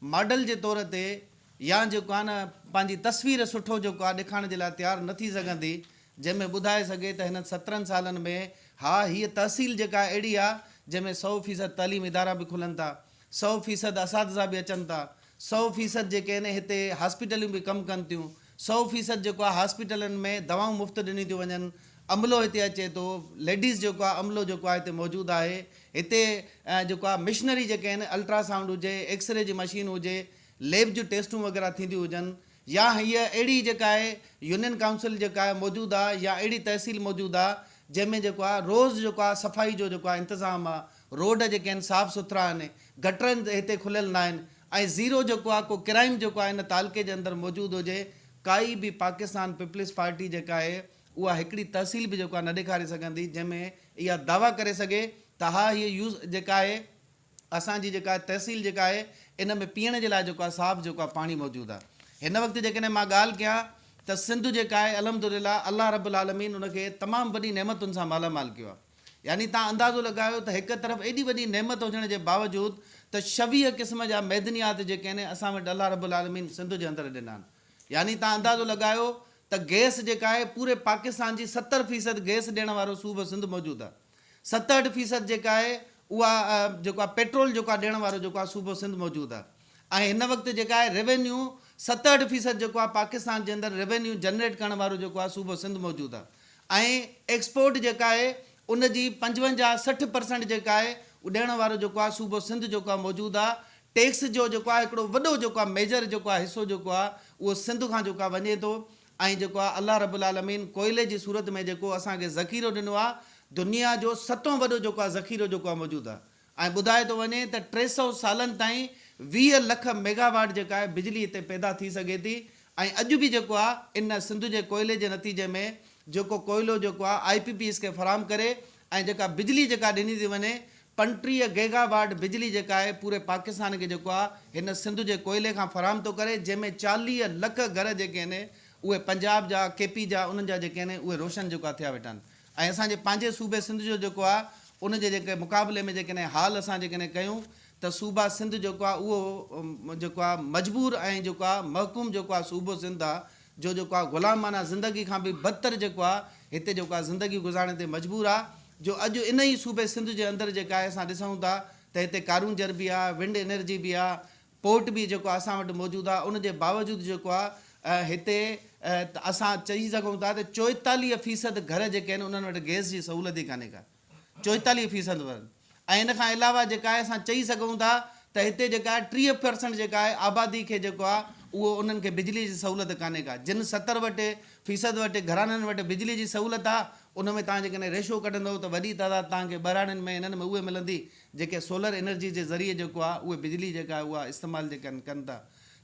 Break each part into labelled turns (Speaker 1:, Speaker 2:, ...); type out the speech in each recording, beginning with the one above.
Speaker 1: Model جي طور تي يا جيڪو آهي نه پنهنجي تصوير سٺو جيڪو آهي ڏيکارڻ جي لاء تيار نه ٿي سگهندي جنهن ۾ ٻڌائي سگهي ته هنن سترهن سالن ۾ ها هيء تحصيل جيڪا اهڙي آهي جنهن ۾ سؤ فيصد تعليم ادارا به کلن ٿا سؤ فيصد اساتذا به اچن ٿا سؤ فيصد جيڪي آهن هتي هاسپيٽليون به ڪم ڪن ٿيون سؤ فيصد جيڪو آهي هاسپيٽلن ۾ دوائون مفت ڏنيون ٿيون وڃن عملو هتي اچي ٿو ليڊيز جيڪو آهي عملو جيڪو آهي هتي موجود آهي هتي جيڪو آهي مشنري جيڪي آهن الٽرا سائونڊ هجي ايڪس ري جي مشين هجي ليب جون ٽيسٽون وغيره ٿينديون هجن يا هيء اهڙي جيڪا آهي يونين ڪائونسل جيڪا آهي موجود آهي يا اهڙي تحصيل موجود آهي جنهن ۾ جيڪو آهي روز جيڪو آهي صفائي جو جيڪو آهي انتظام آهي روڊ جيڪي آهن صاف سٿرا آهن، گٽرن هتي کليل ناهن ۽ زيرو جيڪو آهي ڪو ڪرائيم جيڪو آهي ان تعلقي جي اندر موجود هجي ڪائي به پاڪستان پيپلز پارٽي جيڪا آهي اها هڪڙي تحصيل به جيڪو آهي نه ڏيکاري سگهندي جنهن ۾ اها دعويٰ ڪري سگهي ته ها هيء يوز جيڪا آهي اسان جي جيڪا آهي تحصيل جيڪا آهي ان ۾ پيئڻ جي لاء جيڪو آهي صاف جيڪو آهي پاڻي موجود آهي هن وقت جيڪڏهن مان ڳالهه ڪيان ته سنڌ جيڪا آهي الحمدلله الله رب العالمين ان کي تمام وڏي نعمتن سان مالامال ڪيو آهي. يعني تان اندازو لڳايو ته هڪ طرف ايڏي وڏي نعمت هجڻ جي باوجود ته شويهه قسم جا معدنيات جيڪي آهن اسان وٽ الله رب العالمين سنڌ جي اندر ڏنا آهن يعني تان اندازو لڳايو ته گئس جيڪا آهي پوري پاڪستان جي ستر فيصد گئس ڏيڻ وارو صوبه سنڌ موجود آهي ستهٺ فيصد جيڪا آهي اها جيڪو آهي پيٽرول جيڪو آهي ڏيڻ وارو جيڪو آهي صوبو سنڌ موجود آهي. ۽ هن وقت جيڪا آهي روينيو ستهٺ فيصد جيڪو آهي پاڪستان جي اندر روينيو جنريٽ ڪرڻ وارو جيڪو آهي صوبو سنڌ موجود آهي ۽ ايڪسپورٽ جيڪا آهي ان جي پنجونجاهه سٺ پرسنٽ جيڪا آهي اهو ڏيڻ وارو جيڪو آهي صوبو سنڌ جيڪو آهي موجود آهي ٽيڪس جو جيڪو آهي هڪڙو وڏو جيڪو آهي ميجر جيڪو آهي حصو جيڪو آهي اهو سنڌ کان جيڪو آهي وڃي ٿو ۽ جيڪو آهي الله رب العالمين ڪوئلي جي صورت ۾ جيڪو اسان کي ذخيرو ڏنو آهي دنيا جو ستون وڏو جيڪو آهي ذخيرو جيڪو آهي موجود آهي ائين ٻڌايو ٿو وڃي ته ٽي سؤ سالن تائين ويهه لک ميگا واٽ جيڪا آهي بجلي هتي پيدا ٿي سگهي ٿي ۽ اڄ به جيڪو آهي ان سنڌ جي ڪوئلي جي نتيجي ۾ جيڪو ڪوئلو جيڪو آهي آء پي پي ايس کي فراهم ڪري ۽ جيڪا بجلي جيڪا ڏني ٿي وڃي پنٽيهه گيگا واٽ بجلي جيڪا آهي پوري پاڪستان کي جيڪو آهي هن سنڌ جي ڪوئلي کان فراهم ٿو ڪري جنهن ۾ چاليهه لک گهر جيڪي آهن اهي پنجاب جا ڪي پي جا انهن جا جيڪي آهن اهي روشن جيڪو آهي ٿيا ويٺا آهن ۽ اسان جي پنهنجي صوبي سنڌ جو جيڪو آهي ان جي جيڪي مقابلي ۾ جيڪڏهن حال اسان جيڪڏهن ڪيون ته صوبه سنڌ جيڪو آهي اهو جيڪو آهي مجبور ۽ جيڪو آهي محڪوم جيڪو آهي صوبو سنڌ آهي جو جيڪو آهي غلامانه زندگي کان به بدتر جيڪو آهي هتي جيڪو آهي زندگي گذارڻ تي مجبور آهي جو اڄ انهي صوبي سنڌ جي اندر جيڪا آهي اسان ڏسون ٿا ته هتي ڪارونجهر به آهي ونڊ انرجي به آهي پورٽ به جيڪو آ اسان وٽ موجود آ ان جي باوجود جيڪو آ هتي اسان چئي سگهون ٿا ته چوئيتاليهه فيصد گهر جيڪي آهن انهن وٽ گئس جي سهولت ئي ڪانهي ڪا چوئيتاليهه فيصد ورن ۽ ان کان علاوه جيڪا آهي اسان چئي سگهون ٿا ته هتي جيڪا آهي ٽيهه پرسنٽ جيڪا آهي آبادي کي جيڪو آ اهو انهن کي بجلي جي سهولت ڪانهي ڪا جن ستر وٽ فيصد وٽ گهراڻن وٽ بجلي جي سهولت آ ان ۾ توهان جيڪڏهن ريشو ڪڍندئو ته وڏي تعداد توهان کي ٻهراڙين ۾ انهن ۾ اهي ملندي جيڪي سولر انرجي جي ذريعي جيڪو آهي اهي بجلي جيڪا آهي اها استعمال جيڪا آهن ڪن ٿا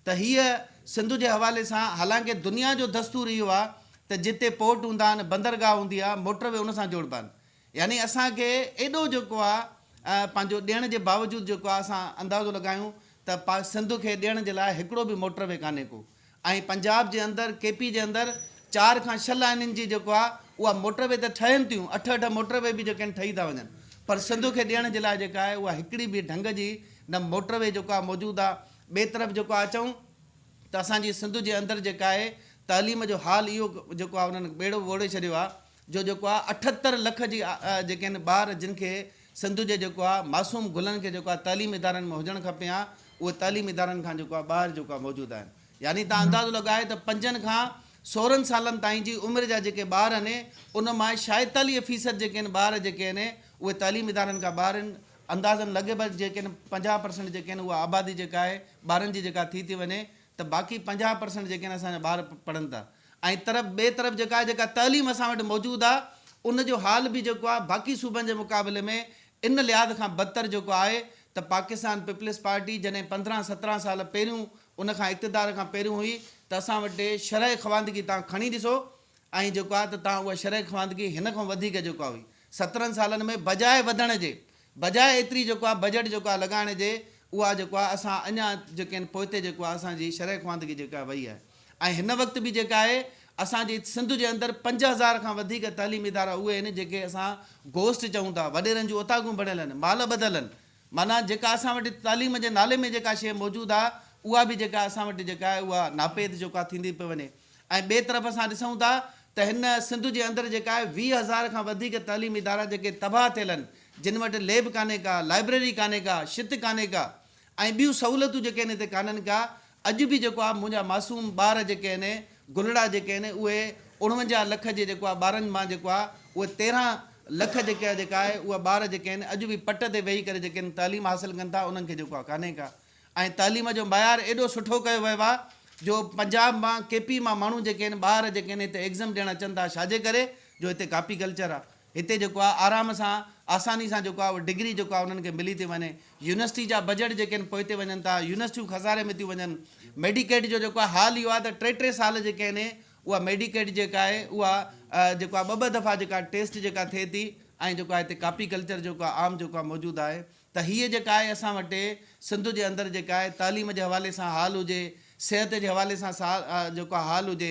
Speaker 1: ته هيء سنڌ جي حوالي سان حالانڪه دنيا جو دستور اهو آهي ته جتي پورٽ هوندا آهن بندرگاهه هوندي آهي موٽر وي ان سان جوڙبا آهن يعني اسان کي ايڏو جيڪو آهي پنهنجو ڏيڻ جي باوجود جيڪو آهي اسان اندازو لڳايون ته پاڪ سنڌ کي ڏيڻ جي لاء هڪڙو به موٽر وي ڪانهي ڪو ۽ پنجاب جي اندر ڪي پي جي اندر چار کان ڇهه لائنين جي جيڪو آ اها موٽر وي ته ٺهين ٿيون اٺ اٺ موٽر وي به جيڪي آهن ٺهي ٿا وڃن پر سنڌ کي ڏيڻ جي لاء جيڪا آهي اها هڪڙي به ڍنگ جي نه موٽر وي جيڪو آ موجود آ ٻي طرف جيڪو آ چئون ته اسان جي سنڌ جي اندر جيڪا آهي تعليم جو حال اهو جيڪو آ انهن ٻيڙو ووڙي ڇڏيو آ جو جيڪو آ اٺهتر لک جي جيڪي آهن ٻار جن کي سنڌ جي جيڪو آ معصوم گلن کي جيڪو آ تعليم ادارن ۾ هجڻ کپي ها اهي تعليم ادارن کان جيڪو آ ٻاهر جيڪو آ موجود آهن يعني تان اندازو لڳايو ته پنجن کان سورهن سالن تائين جي عمر جا جيڪي ٻار آهن ان مان شايتاليهه فيصد جيڪي آهن ٻار جيڪي آهن اهي تعليم ادارن کان ٻاهر آهن اندازن لڳ ڀڳ جيڪي آهن پنجاهه پرسنٽ جيڪي آهن اها آبادي جيڪا آهي ٻارن جي جيڪا ٿي ٿي وڃي ته باقي پنجاهه پرسنٽ جيڪي آهن اسان جا ٻار پڙهن ٿا ۽ طرف ٻئي طرف جيڪا آهي جيڪا تعليم اسان وٽ موجود آهي ان جو حال به جيڪو آهي باقي صوبن جي مقابلي ۾ ان لحاظ کان بدتر جيڪو آهي ته پاڪستان پيپلز پارٽي جڏهن پندرهن سترهن سال پهريون ان کان اقتدار کان پهريون هئي ته اسان وٽ شرح خواندگي تان کڻي ڏسو ۽ جيڪو آهي ته تان اها شرح خواندگي هن کان وڌيڪ جيڪو آهي هئي سترهن سالن ۾ بجاء وڌڻ جي بجاء ايتري جيڪو آهي بجيٽ جيڪو آهي لڳائڻ جي اها جيڪو آهي اسان اڃا جيڪي آهن پوئتي جيڪو آهي اسان جي شرح خواندگي جيڪا آهي وئي آهي ۽ هن وقت به جيڪا آهي اسان جي سنڌ جي اندر پنج هزار کان وڌيڪ تعليمي ادارا اهي آهن جيڪي اسان گوسٽ چئون ٿا وڏيرن جون اوطاقون بڻيل آهن مال ٻڌل آهن معنيٰ جيڪا اسان وٽ تعليم جي نالي ۾ جيڪا شيء موجود آهي اها به جيڪا اسان وٽ جيڪا آهي اها ناپيد جيڪو آهي ٿيندي پئي وڃي ۽ ٻئي طرف اسان ڏسون ٿا ته هن سنڌ جي اندر جيڪا آهي ويهه هزار کان وڌيڪ تعليمي ادارا جيڪي تباهه ٿيل آهن جن وٽ ليب ڪانهي ڪا، لائبريري ڪانهي ڪا، شت ڪانهي ڪا ۽ ٻيون سهولتون جيڪي آهن هتي ڪانهن ڪا اڄ به جيڪو آهي منهنجا معصوم ٻار جيڪي آهن گلڙا جيڪي آهن اهي اڻونجاهه لک جي جيڪو آهي ٻارن مان جيڪو آهي اهي تيرهن لک جيڪي آهي جيڪا آهي اهي ٻار جيڪي آهن اڄ به پٽ تي ويهي ڪري جيڪي آهن تعليم حاصل ڪن ٿا انهن کي جيڪو آهي ڪانهي ڪا ۽ تعليم جو معيار ايڏو سٺو ڪيو ويو آ جو پنجاب مان ڪي پي مان ماڻهو جيڪي آهن ٻار جيڪي آهن هتي ايگزم ڏيڻ اچن ٿا ڇاجي ڪري جو هتي ڪاپي ڪلچر آ هتي جيڪو آ آرام سان آساني سان جيڪو آ اهو ڊگري جيڪو آ انهن کي ملي ٿي وڃي يونيورسٽي جا بجيٽ جيڪي آهن پوئتي وڃن ٿا يونيورسٽيون خساري ۾ ٿيون وڃن ميڊيڪيڊ جو جيڪو آ حال اهو آ ته ٽي ٽي سال جيڪي آهن اها ميڊيڪيڊ جيڪا آهي اها جيڪو آ ٻه ٻه دفعا جيڪا ٽيسٽ جيڪا ٿئي ٿي ۽ جيڪو آ هتي ڪاپي ڪلچر جيڪو آ عام جيڪو آ موجود آهي ته هيء جيڪا آهي اسان وٽ سنڌ جي اندر جيڪا آهي تعليم جي حوالي سان حال هجي، صحت جي حوالي سان سا جيڪو حال هجي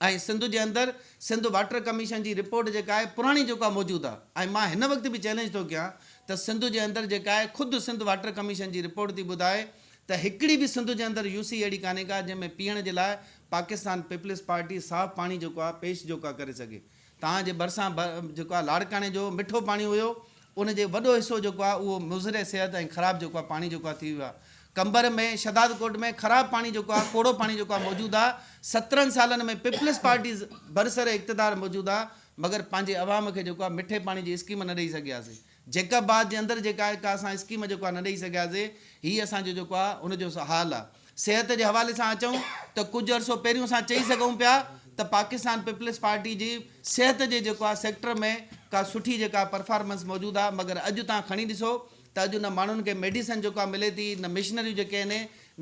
Speaker 1: ۽ سنڌ جي اندر سنڌ واٽر ڪميشن جي رپورٽ جيڪا آهي پراڻي جيڪا آهي موجود آهي ۽ مان هن وقت به چئلينج ٿو ڪيان ته سنڌ جي اندر جيڪا آهي خود سنڌ واٽر ڪميشن جي رپورٽ ٿي ٻڌائي ته هڪڙي به سنڌ جي اندر يوسي اهڙي ڪانهي ڪا جنهن ۾ پيئڻ جي لاء پاڪستان پيپلز پارٽي صاف پاڻي جيڪو آهي پيش جيڪو آهي ڪري سگهي. توهان جي ڀرسان جيڪو آهي لاڙڪاڻي جو مٺو پاڻي هيو ان جي وڏو حصو جيڪو آهي اهو مضر صحت ۽ خراب جيڪو آهي پاڻي جيڪو آهي ٿي ويو آهي قمبر ۾ شهداد ڪوٽ ۾ خراب پاڻي جيڪو آهي ڪوڙو پاڻي جيڪو آهي موجود آهي سترهن سالن ۾ پيپلز پارٽي برسر اقتدار موجود آهي مگر پنهنجي عوام کي جيڪو آهي مٺي پاڻي جي اسڪيم نه ڏئي سگهياسي جيڪب باغ جي اندر جيڪا آهي ڪا اسان اسڪيم جيڪو آهي نه ڏئي سگهياسي هي اسان جو جيڪو آهي ان جو حال آهي صحت جي حوالي سان اچون ته ڪجهه عرصو پهريون اسان چئي سگهون پيا ته پاڪستان پيپلز پارٽي جي صحت جي جيڪو آهي سيڪٽر ۾ ڪا سٺي جيڪا پرفارمنس موجود آهي مگر اڄ تان کڻي ڏسو ته اڄ نه ماڻهن کي ميڊيسن جيڪو آهي ملي ٿي نه مشنريون جيڪي آهن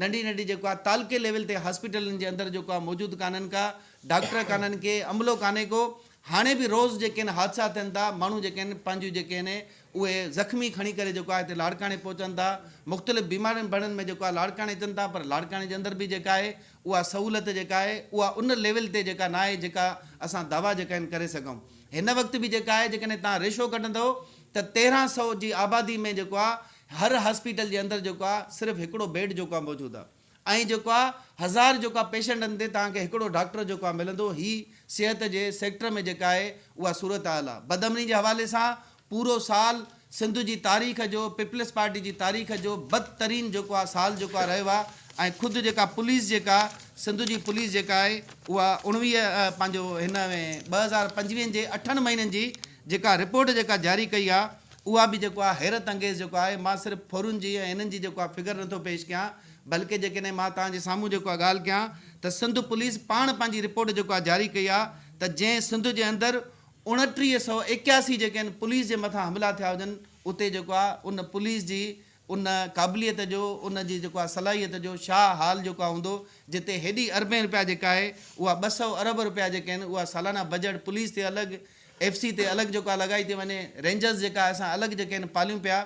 Speaker 1: ننڍي ننڍي جيڪو آهي تعلقي ليول تي هاسپيٽلن جي اندر جيڪو آهي موجود ڪانهن ڪا ڊاڪٽر ڪانهن ڪي عملو ڪانهي ڪو هاڻي به روز جيڪي آهن حادثا ٿين ٿا ماڻهو جيڪي آهن پنهنجيون جيڪي آهن اهي زخمي کڻي ڪري جيڪو آهي هتي لاڙڪاڻي پهچن ٿا مختلف بيمارين بڙن ۾ جيڪو آهي لاڙڪاڻي اچن ٿا پر لاڙڪاڻي جي اندر به جيڪا آهي اها سهولت جيڪا آهي اها ان ليول تي جيڪا نه آهي جيڪا اسان دعويٰ جيڪا آهن ڪري سگهون هن وقت به جيڪا آهي جيڪڏهن توهان ريشو ڪڍندو ته تيرهن سئو جي آبادي ۾ جيڪو آهي هر هاسپيٽل جي اندر جيڪو آهي صرف هڪڙو بيڊ جيڪو آهي موجود آهي ۽ جيڪو آ هزار جيڪو آ پيشنٽن تي توهان کي هڪڙو ڊاڪٽر جيڪو آ ملندو هي صحت جي سيڪٽر ۾ جيڪا آهي اها صورتحال آ بدامني جي حوالي سان پورو سال سنڌ جي تاريخ جو پيپلز پارٽي جي تاريخ جو بد ترين جيڪو آ سال جيڪو آ رهيو آ ۽ خود جيڪا پوليس جيڪا سنڌ جي پوليس جيڪا آهي اها اوڻويهه پنهنجو هن ۾ ٻه هزار پنجويهه جي اٺن مهينن جي جيڪا رپورٽ جيڪا جاري ڪئي آ اها به جيڪو آ حيرت انگيز جيڪو آهي مان صرف ڦرون جي ۽ انهن جي جيڪو آ فگر نٿو پيش ڪيان بلڪه جيڪڏهن مان توهان جي سامهون جيڪو آ ڳالهه ڪيان ته سنڌ پوليس پاڻ پنهنجي رپورٽ جيڪو آ جاري ڪئي آ ته جنهن سنڌ جي اندر اوڻٽيهه سؤ ايڪياسي جيڪي آهن پوليس جي مٿان حملا ٿيا هجن اتي جيڪو آ ان پوليس جي ان قابليت جو، ان جي جيڪو آهي صلاحيت جو شاهه حال جيڪو آهي هوندو، جتي هيڏي اربين روپيا جيڪا آهي اها ٻه سؤ ارب روپيا جيڪي آهن اها سالانه بجيٽ پوليس تي الڳ، ايف سي تي الڳ جيڪو آهي لڳائي ٿي وڃي، رينجرز جيڪا آهي اسان الڳ جيڪي آهن پاليون پيا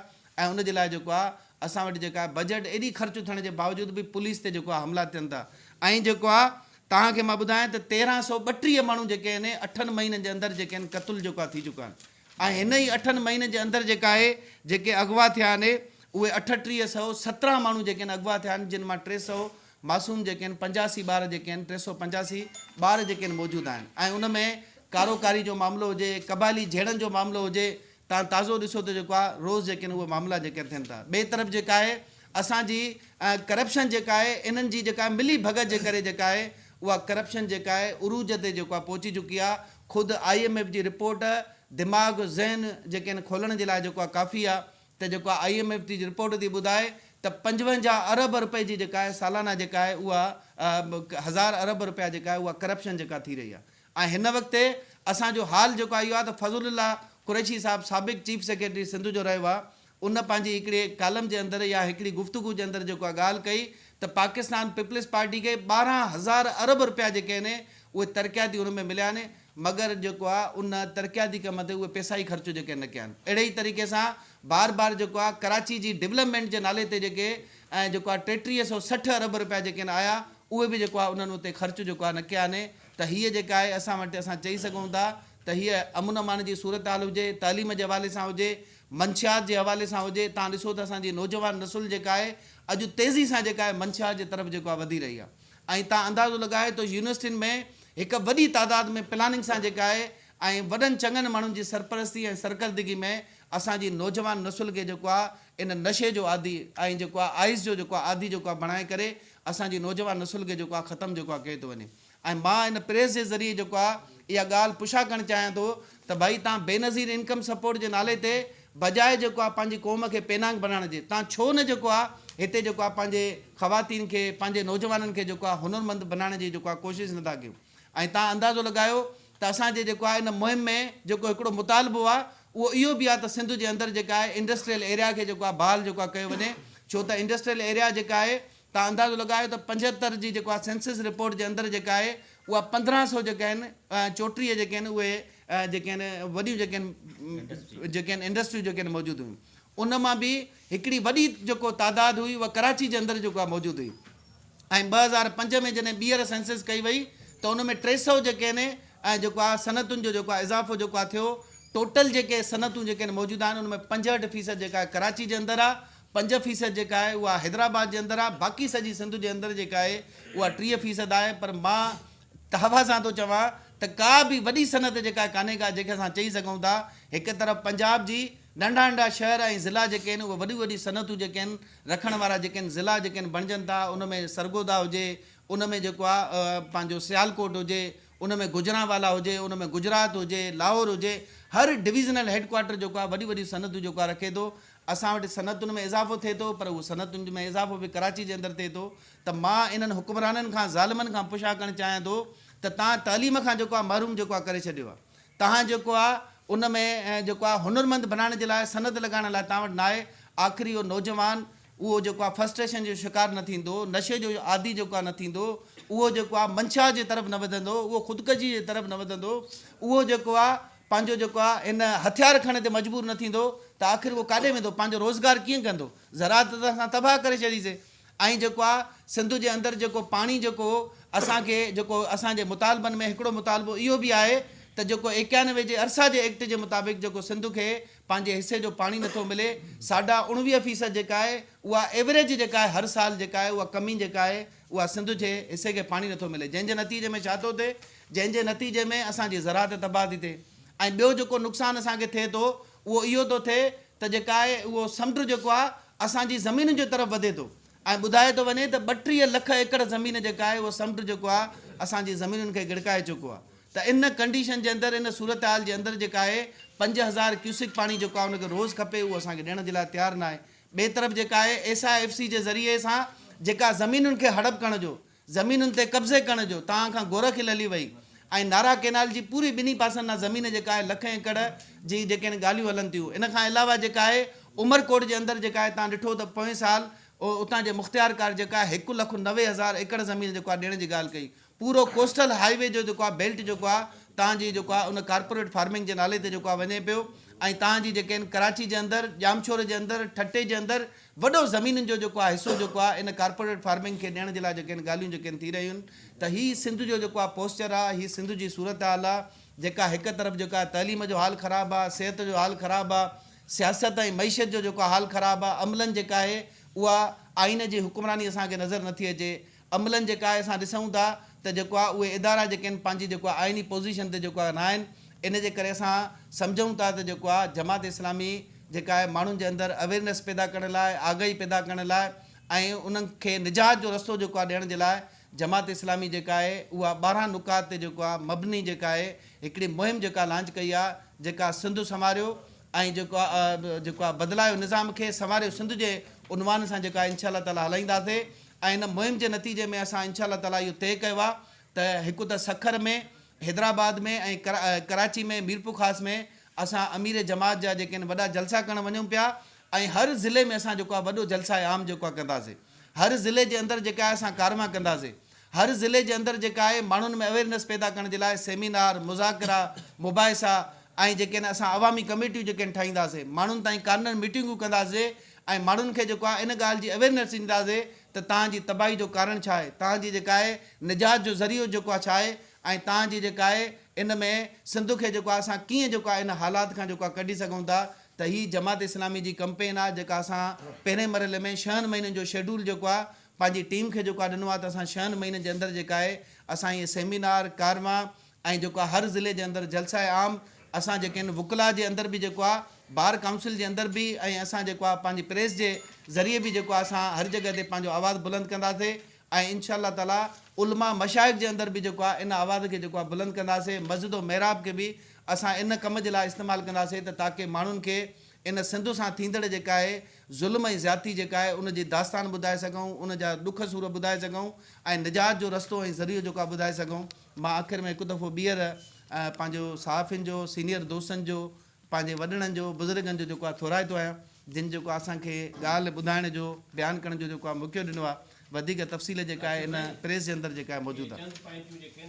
Speaker 1: ۽ ان جي لاء جيڪو آهي اسان وٽ جيڪا آهي بجيٽ ايڏي خرچ ٿيڻ جي باوجود به پوليس تي جيڪو آهي حملا ٿين ٿا ۽ جيڪو آهي توهان کي مان ٻڌايان ته تيرهن سؤ ٻٽيهه ماڻهو جيڪي آهن اٺن مهينن جي اندر جيڪي آهن قتل جيڪو آهي ٿي چڪا آهن. ۽ هن ئي اٺن مهينن جي اندر جيڪا اهي جيڪي اغوا ٿيا آهن اهي اٺٽيهه سئو سترهن ماڻهو جيڪي آهن اغوا ٿيا آهن جن مان ٽي سئو معصوم جيڪي آهن پنجاسي ٻار جيڪي آهن ٽي سئو پنجاسي ٻار جيڪي آهن موجود آهن ۽ ان ۾ ڪارو ڪاري جو معاملو هجي قبائلي جهيڙن جو معاملو هجي تان تازو ڏسو ته جيڪو آهي روز جيڪي آهن اهي معاملا جيڪي آهن ٿين ٿا ٻئي طرف جيڪا آهي اسان جي ڪرپشن جيڪا آهي انهن جي جيڪا ملي ڀڳت جي ڪري جيڪا آهي اها ڪرپشن جيڪا آهي عروج تي جيڪو آهي پهچي چڪي آهي خود آء ايم ايف جي رپورٽ دماغ ذهن جيڪي آهن کولڻ جي لاء جيڪو آهي ڪافي آهي ته جيڪو آهي آء ايم ايف جي رپورٽ ٿي ٻڌائي ته پنجونجاهه ارب رپئي جي جيڪا آهي سالانه جيڪا آهي اها هزار ارب رپيا جيڪا آهي اها ڪرپشن جيڪا ٿي رهي آهي ۽ هن وقت تي اسان جو حال جيڪو آهي اهو آهي ته فضل الله قريشي صاحب سابق چيف سيڪريٽري سنڌ جو رهيو آهي ان پنهنجي هڪڙي ڪالم جي اندر يا هڪڙي گفتگو جي اندر جيڪو اها ڳالهه ڪئي ته پاڪستان پيپلز پارٽي کي ٻارهن هزار ارب رپيا جيڪي آهن اهي ترقياتي ان ۾ مليا آهن مگر جيڪو آهي ان ترقياتي ڪم تي اهي پيسا ئي خرچ جيڪي نه ڪيا آهن اهڙي ئي طريقي سان بار بار جيڪو آهي ڪراچي جي ڊولپمينٽ جي نالي تي جيڪي ۽ جيڪو آهي ٽيٽيهه سئو سٺ ارب رپيا جيڪي آهن آيا اهي به جيڪو آهي انهن اتي خرچ جيڪو آهي نه ڪيا آهن ته هيء جيڪا آهي اسان وٽ اسان چئي سگهون ٿا ته هيء امن امان جي صورتحال هجي تعليم جي حوالي سان هجي منشيات جي حوالي سان هجي تان ڏسو ته اسان جي نوجوان نسل جيڪا آهي اڄ تيزي سان جيڪا آهي منشيات جي طرف جيڪو آهي وڌي رهي آهي ۽ تان اندازو لڳايو ته يونيورسٽين ۾ هڪ وڏي تعداد ۾ پلاننگ سان جيڪا آهي ۽ وڏن چڱن ماڻهن جي سرپرستي ۽ سرڪردگي ۾ اسان جي نوجوان نسل کي جيڪو آهي ان نشي جو عادي ۽ جيڪو آهي آئس جو جيڪو آهي عادي جيڪو آهي بڻائي ڪري اسان جي نوجوان نسل کي جيڪو آهي ختم جيڪو آهي ڪيو ٿو وڃي ۽ مان ان پريس جي ذريعي جيڪو آ اها ڳالهه پڇا ڪرڻ چاهيان ٿو ته ڀائي تان بينظير انڪم سپورٽ جي نالي تي بجاء جيڪو آ پنهنجي قوم کي پينانگ بڻائڻ جي تان ڇو نه جيڪو آ هتي جيڪو آ پنهنجي خواتين کي پنهنجي نوجوانن کي جيڪو آ هنر مند بنائڻ جي جيڪو آ ڪوشش نه ٿا ڪيو ۽ تان اندازو لڳايو ته اسان جي جيڪو آ ان مهم ۾ جيڪو هڪڙو مطالبو آ اهو اهو به آ ته سنڌ جي اندر جيڪا آهي انڊسٽريل ايريا کي جيڪو آ بحال جيڪو آ ڪيو وڃي ڇو ته انڊسٽريل ايريا جيڪا آهي تان اندازو لڳايو ته پنجهتر جي جيڪو آهي سينسس رپورٽ جي اندر جيڪا آهي اها پندرهن سئو جيڪا آهن چوٽيهه جيڪي آهن اهي جيڪي آهن وڏيون جيڪي آهن جيڪي آهن انڊسٽريون جيڪي آهن موجود هيون ان مان به هڪڙي وڏي جيڪو تعداد هئي اها ڪراچي جي اندر جيڪو آهي موجود هئي ۽ ٻه هزار پنج ۾ جڏهن ٻيهر سينسس ڪئي وئي ته ان ۾ ٽي سئو جيڪي آهن جيڪو آهي صنعتن جو جيڪو آهي اضافو جيڪو آهي ٿيو ٽوٽل جيڪي صنعتون جيڪي آهن موجود آهن ان ۾ پنجهٺ فيصد جيڪا آهي ڪراچي جي اندر آهي پنج فيصد جيڪا آهي اها حيدرآباد جي اندر آهي باقي سڄي سنڌ جي اندر جيڪا آهي اها ٽيهه فيصد آهي پر مان تحفه سان ٿو چوان ته ڪا به وڏي صنعت جيڪا ڪانهي ڪا جنهن کي اسان چئي سگهون ٿا هڪ طرف پنجاب جي ننڍا ننڍا شهر ۽ ضلعا جيڪي آهن اهي وڏيون وڏيون صنعتون جيڪي آهن رکڻ وارا جيڪي آهن ضلعا جيڪي آهن بڻجن ٿا ان ۾ سرگوڌا هجي ان ۾ جيڪو آهي پنهنجو سيالڪوٽ هجي ان ۾ گوجرانوالا هجي، ان ۾ گجرات هجي، لاهور هجي، هر ڊويزنل هيڊ ڪوارٽر جيڪو آهي وڏيون وڏيون صنعتون جيڪو آهي رکي ٿو. اسان وٽ صنعتن ۾ اضافو ٿئي ٿو پر اهو صنعتن ۾ اضافو به ڪراچي جي اندر ٿئي ٿو ته مان انهن حڪمرانن کان ظالمن کان پشا ڪرڻ چاهيان ٿو ته تان تعليم کان جيڪو آهي محروم جيڪو آهي ڪري ڇڏيو آهي. تان جيڪو آهي ان ۾ جيڪو آهي هنرمند بنائڻ جي لاء صنعت لڳائڻ لاء تان وٽ ناهي. آخري اهو نوجوان اهو جيڪو آ فرسٽريشن جو شڪار نه ٿيندو، نشي جو عادي جيڪو آ نه ٿيندو، اهو جيڪو آ منشا جي طرف نه وڌندو، اهو خودڪشي جي طرف نه وڌندو، اهو جيڪو آ پنهنجو جيڪو آ ان هٿيار کڻڻ تي مجبور نه ٿيندو ته آخر اهو ڪاڏي ويندو، پنهنجو روزگار ڪيئن ڪندو، زراعت ته اسان تباهه ڪري ڇڏي سي. ۽ جيڪو آ سنڌ جي اندر جيڪو پاڻي جيڪو هو اسان کي جيڪو اسان جي مطالبن ۾ هڪڙو مطالبو اهو به آهي ته جيڪو ايڪيانوي جي ارسا جي ايڪٽ جي مطابق جيڪو سنڌ کي پنهنجي حصي جو پاڻي نٿو ملي، ساڍا اڻويهه فيصد جيڪا آهي اها ايوريج جيڪا آهي هر سال جيڪا آهي اها ڪمي جيڪا آهي اها سنڌ جي حصي کي پاڻي نٿو ملي جنهن جي نتيجي ۾ ڇا ٿو ٿئي جنهن جي نتيجي ۾ اسان جي زراعت تباهه ٿي ٿئي ۽ ٻيو جيڪو نقصان اسان کي ٿئي ٿو اهو اهو ٿو ٿئي ته جيڪا آهي اهو سمنڊ جيڪو آهي اسان جي زمينن جي طرف وڌي ٿو ائين ٻڌايو ٿو وڃي ته ٻٽيهه لک ايڪڙ زمين جيڪا آهي اهو سمنڊ جيڪو آهي اسان جي زمينن کي ڳڙڪائي چڪو آهي ته ان ڪنڊيشن جي اندر ان صورتحال جي اندر جيڪا آهي پنج هزار ڪيوسڪ پاڻي جيڪو آهي ان کي روز کپي اهو اسان کي ڏيڻ جي لاء تيار ناهي ٻئي طرف جيڪا آهي ايس آء ايف سي جي ذريعي سان جيڪا زمينن کي هڙپ ڪرڻ جو زمينن تي قبضي ڪرڻ جو تان کان گورء کل هلي وئي ۽ نارا ڪينال جي پوري ٻنهي پاسن ڏانهن زمين جيڪا آهي لک ايڪڙ جي جيڪي هن ڳالهيون هلن ٿيون ان کان علاوه جيڪا آهي عمرڪوٽ جي اندر جيڪا آهي تان ڏٺو ته پوئين سال اتان جي مختيارڪار جيڪا آهي هڪ لک نوي هزار ايڪڙ زمين جيڪو آهي ڏيڻ جي ڳالهه ڪئي پورو ڪوسٽل هاء وي جو جيڪو آهي بيلٽ جيڪو آهي تان جي جيڪو آهي ان ڪارپوريٽ فارمنگ جي نالي تي جيڪو آهي وڃي پيو ۽ تان جي جيڪي آهن ڪراچي جي اندر ڄامشوري جي اندر ٺٽي جي اندر وڏو زمينن جو جيڪو آ حصو جيڪو آ ان ڪارپوريٽ فارمنگ کي ڏيڻ جي لاء جيڪي آهن ڳالهيون جيڪي آهن ٿي رهيون ته هي سنڌ جو جيڪو آ پوسچر آ هي سنڌ جي صورتحال آ جيڪا هڪ طرف جيڪو آ تعليم جو حال خراب آ صحت جو حال خراب آ سياست ۽ معيشت جو جيڪو آ حال خراب آ عملن جيڪا آهي اها آئين جي حڪمراني اسان کي نظر نٿي اچي عملن جيڪا آهي اسان ڏسون ٿا ته جيڪو آهي اهي ادارا جيڪي آهن پنهنجي جيڪو آهي آئيني پوزيشن تي جيڪو آهي نه آهن ان جي ڪري اسان سمجهون ٿا ته جيڪو آهي جماعت اسلامي جيڪا آهي ماڻهن جي اندر اويرنس پيدا ڪرڻ لاء آگاهي پيدا ڪرڻ لاء ۽ انهن کي نجات جو رستو جيڪو آهي ڏيڻ جي لاء جماعت اسلامي جيڪا آهي اها ٻارهن نقاط تي جيڪو آهي مبني جيڪا آهي هڪڙي مهم جيڪا لانچ ڪئي آهي جيڪا سنڌ سنواريو ۽ جيڪو آهي جيڪو آهي بدلايو نظام کي سنواريو سنڌ جي عنوان سان جيڪا آهي انشاء الله تعالٰي هلائينداسين ۽ ان مهم جي نتيجي ۾ اسان انشاء الله تعاليٰ اهو طئي ڪيو آهي ته هڪ ته سکر ۾ حيدرآباد ۾ ۽ ڪراچي ۾ ميرپورخاص ۾ اسان امير جماعت جا جيڪي آهن وڏا جلسا ڪرڻ وڃون پيا ۽ هر ضلعي ۾ اسان جيڪو آهي وڏو جلسه عام جيڪو آهي ڪنداسي هر ضلعي جي اندر جيڪا آهي اسان ڪاروايان ڪنداسي هر ضلعي جي اندر جيڪا آهي ماڻهن ۾ اويرنس پيدا ڪرڻ جي لاء سيمينار مذاڪرا مباحثا ۽ جيڪي آهن اسان عوامي ڪميٽيون جيڪي آهن ٺاهينداسي ماڻهن تائين ڪارنر ميٽنگون ڪنداسي ۽ ماڻهن کي جيڪو آهي ان ڳالهه جي اويرنيس ڏني رهجي ته توهان جي تباهي جو ڪارڻ ڇا آهي، توهان جي جيڪا آهي نجات جو ذريعو جيڪو آهي ڇا آهي ۽ توهان جي جيڪا آهي ان ۾ سنڌ کي جيڪو آهي اسان ڪيئن جيڪو آهي ان حالات کان جيڪو آهي ڪڍي سگهون ٿا ته هي جماعت اسلامي جي ڪمپين آهي جيڪا اسان پهرين مرحلي ۾ شهن مهينن جو شيڊول جيڪو آهي پنهنجي ٽيم کي جيڪو آهي ڏنو آهي ته اسان شهن مهينن جي اندر جيڪا آهي اسان هي سيمينار، ڪارواين، ۽ جيڪو آ هر ضلعي جي اندر جلسه عام اسان جيڪي آهن وڪلا جي اندر به جيڪو آ بار ڪائونسل جي اندر به ۽ اسان جيڪو آ پنهنجي پريس جي ذريعي به جيڪو آ اسان هر جڳهه تي پنهنجو آواز بلند ڪنداسي ۽ ان شاء الله تعالي علماء مشائخ جي اندر به جيڪو آ ان آواز کي جيڪو آ بلند ڪنداسي مسجد و محراب کي به اسان ان ڪم جي لاء استعمال ڪنداسي ته تاڪه ماڻهن کي ان سنڌ سان ٿيندڙ جيڪا آهي ظلم ۽ زيادتي جيڪا آهي ان جي داستان ٻڌائي سگهون ان جا ڏک سور ٻڌائي سگهون ۽ نجات جو رستو ۽ ذريعو جيڪو آ ٻڌائي سگهون. مان آخر ۾ هڪ دفعو ٻيهر پنهنجو صحافين جو سينيئر دوستن جو پنهنجي وڏڙن جو بزرگن جو جيڪو آ ٿورائتو آهيان جن جيڪو آ اسان کي ڳالهه ٻڌائڻ جو بيان ڪرڻ جو جيڪو آ موقعو ڏنو آ وڌيڪ تفصيل جيڪا آهي ان پريس جي اندر جيڪا آهي موجود آ.